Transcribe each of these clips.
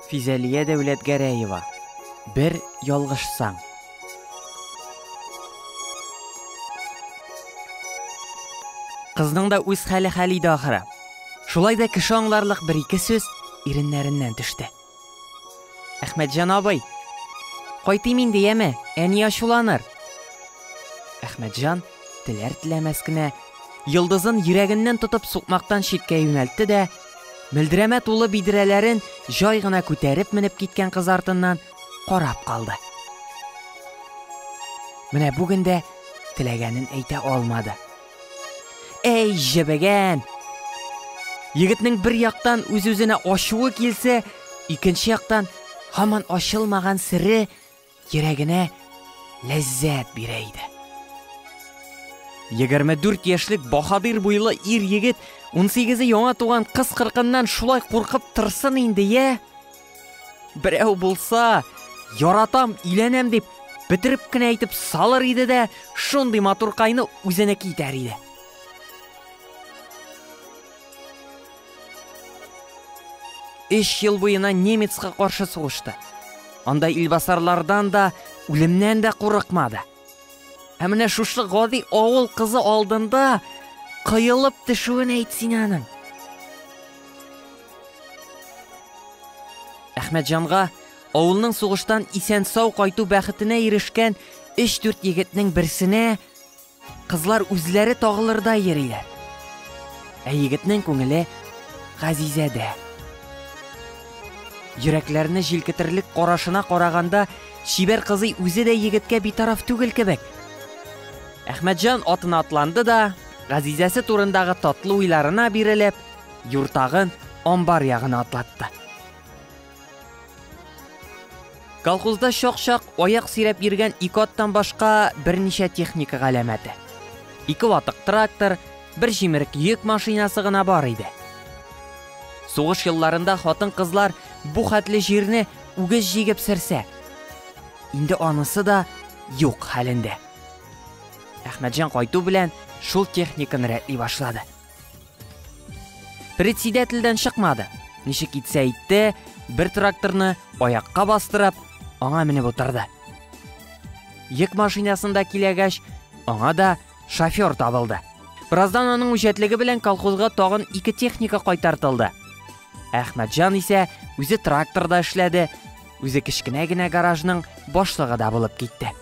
Физәлия Дәүләтгәрәева, Бер ялгышсаң. Кызның да үз хәле хәл иде ахыры. Шулай да кеше аңларлык бер-ике сүз иреннәреннән төште. Әхмәтҗан абый, кайтыйм инде, яме, әни ачуланыр. Әхмәтҗан, теләр-теләмәс кенә, йолдызын йөрәгеннән тотып сукмактан читкә юнәлтте дә, Мөлдерәмә тулы бидрәләрен җай гына күтәреп менеп киткән кыз артыннан карап калды. Менә бүген дә теләгәнен әйтә алмады. Әй, җебегән! Егетнең бер яктан үз-үзенә ачуы килсә, икенче яктан һаман ачылмаган сере йөрәгенә ләззәт бирә иде. 24 яшьлек баһадир буйлы ир егет 18-е яңа туган кыз кыркыннан шулай куркып торсын инде, я? Берәү булса, яратам, иләнәм дип, бетереп кенә әйтеп салыр иде дә, шундый матуркайны үзенеке итәр иде. Өч ел буена немецка каршы сугышты. Анда илбасарлардан да, үлемнән дә курыкмады. Ә менә шушы гади авыл кызы алдында кыелып төшүен әйт син аның. Әхмәтҗанга авылның сугыштан исән-сау кайту бәхетенә ирешкән 3-4 егетнең берсенә Кызлар үзләре тагылырда йөриләр. Ә егетнең күңеле Газизәдә. Йөрәкләрне җилкетерлек карашына караганда, чибәр кызый үзе дә егеткә битараф түгел кебек. Әхмәтҗан атына атланды да, Газизәсе турындагы татлы уйларына бирелеп, юртагын амбар ягына атлатты. Колхозда чак-чак аяк сөйрәп йөргән ике аттан башка берничә техника галәмәте. Ике ватык трактор, бер җимерек йөк машинасы гына бар иде. Сугыш елларында хатын-кызлар бу хәтле җирне үгез җигеп сөрсә, инде анысы да юк хәлендә. Әхмәтҗан кайту белән шул техниканы рәтли башлады. Председательдән чыкмады. Ничек итсә итте, бер тракторны аякка бастырып, аңа менеп утырды. Йөк машинасында киләгәч, аңа да шофер табылды. Бераздан аның үҗәтлеге белән колхозга тагын ике техника кайтартылды. Әхмәтҗан исә үзе тракторда эшләде, Үзе кечкенә генә гаражның башлыгы да булып китте.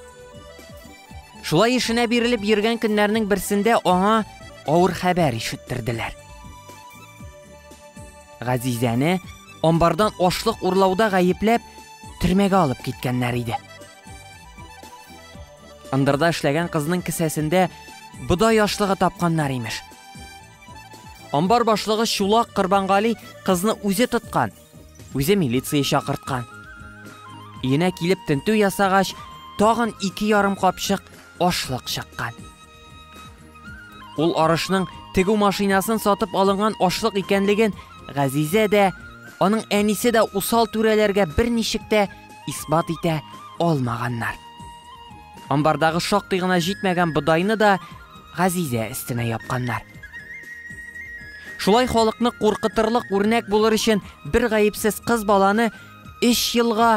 Шулай эшенә бирелеп йөргән көннәрнең берсендә аңа авыр хәбәр ишеттерделәр. Газизәне амбардан ашлык урлауда гаепләп төрмәгә алып киткәннәр иде. Ындырда эшләгән кызның кесәсендә бодай ашлыгы тапканнар имеш. Амбар башлыгы Чулак Кырбангали кызны үзе тоткан – Үзе милиция чакырткан. Өенә килеп тентү ясагач, тагын ике ярым капчык ашлык чыккан. Ул арышның тегү машинасын сатып алынган ашлык икәнлеген Газизә дә, аның әнисе дә усал түрәләргә берничек тә исбат итә алмаганнар. Амбардагы шактый гына җитмәгән бодайны да Газизә өстенә япканнар. Шулай халыкны куркытырлык үрнәк булыр өчен бер гаепсез кыз баланы 3 елга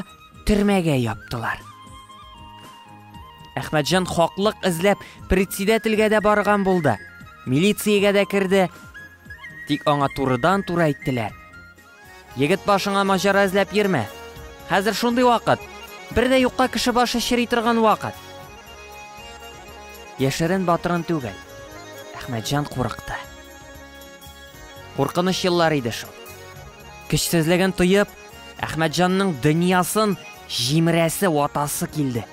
төрмәгә яптылар. Әхмәтҗан хаклык эзләп председательгә дә барган булды. Милициягә дә керде. Тик аңа турыдан-туры әйттеләр. Егет башыңа маҗара эзләп йөрмә. Хәзер шундый вакыт. Бер дә юкка кеше башы чери торган вакыт. Яшерен батырын түгел. Әхмәтҗан курыкты. Куркыныч еллар иде шул. Көчсезлеген тоеп, Әхмәтҗанның дөньясын җимерәсе ватасы килде.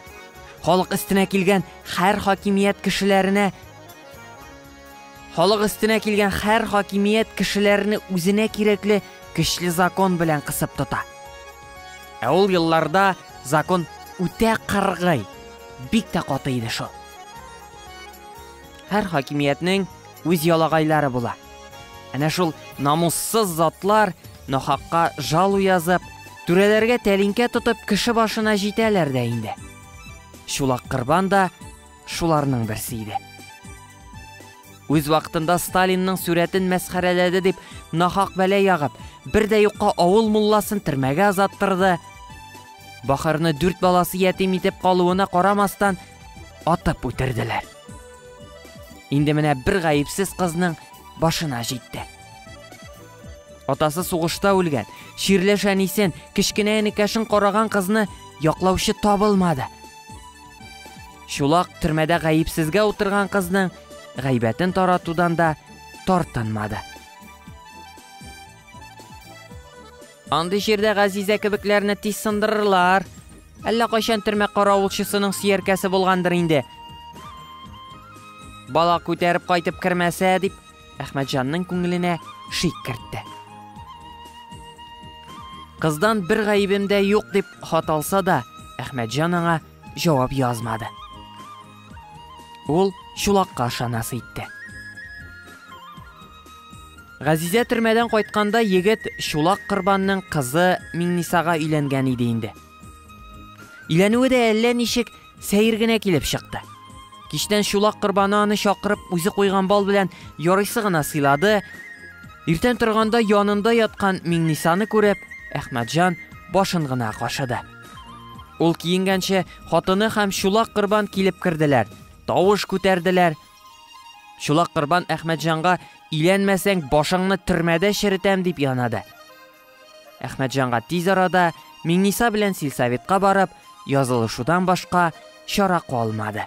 Халык өстенә килгән һәр хакимият кешеләренә Халык өстенә килгән хәр хакимият кешеләрне үзенә кирәкле көчле закон белән кысып тота. Ә ул елларда закон үтә кыргый, бик тә каты иде шул. Һәр хакимиятнең үз ялагайлары була. Әнә шул намуссыз затлар нахакка жалу язып, түрәләргә тәлинкә тотып кеше башына җитәләр дә инде. Чулак Кырбан да шуларның берсе иде. Үз вакытында Сталинның сүрәтен мәсхәрәләде дип нахак бәлә ягып, бер дә юкка авыл мулласын төрмәгә азаттырды. Бахырны дүрт баласы ятим итеп калуына карамастан, атып үтерделәр. Инде менә бер гаепсез кызның башына җитте. Атасы сугышта үлгән, чирләшәнисен, кечкенә энекәшен караган кызны яклаучы табылмады. Чулак төрмәдә гаепсезгә утырган кызның гайбәтен таратудан да тартынмады. Андый җирдә Газизә кебекләрне тиз сындырырлар. Әллә кайчан төрмә каравылчысының сөяркәсе булгандыр инде. Бала күтәреп кайтып кермәсә, дип Әхмәтҗанның күңеленә шик кертте. Кыздан бер гаебем дә юк дип хат алса да, Әхмәтҗан аңа җавап язмады. Ул чулакка шанас итте. Газизә төрмәдән кайтканда егет Чулак Кырбанның кызы Миңнисага өйләнгән иде инде. Иләнүе дә әллә ничек Сәер генә килеп чыкты. Кичтән чулак корбаны аны чакырып үзе куйган бал белән ярыйсы гына сыйлады. Иртән торганда янында яткан Миңнисаны күреп, Әхмәтҗан башын гына кашыды. Ул киенгәнче хатыны һәм чулак корбан килеп керделәр, тавыш күтәрделәр. Чулак корбан Әхмәтҗанга иләнмәсәң башыңны төрмәдә черетәм дип янады. Әхмәтҗанга тиз арада Миңниса белән сельсоветка барып, язылышудан башка чара калмады.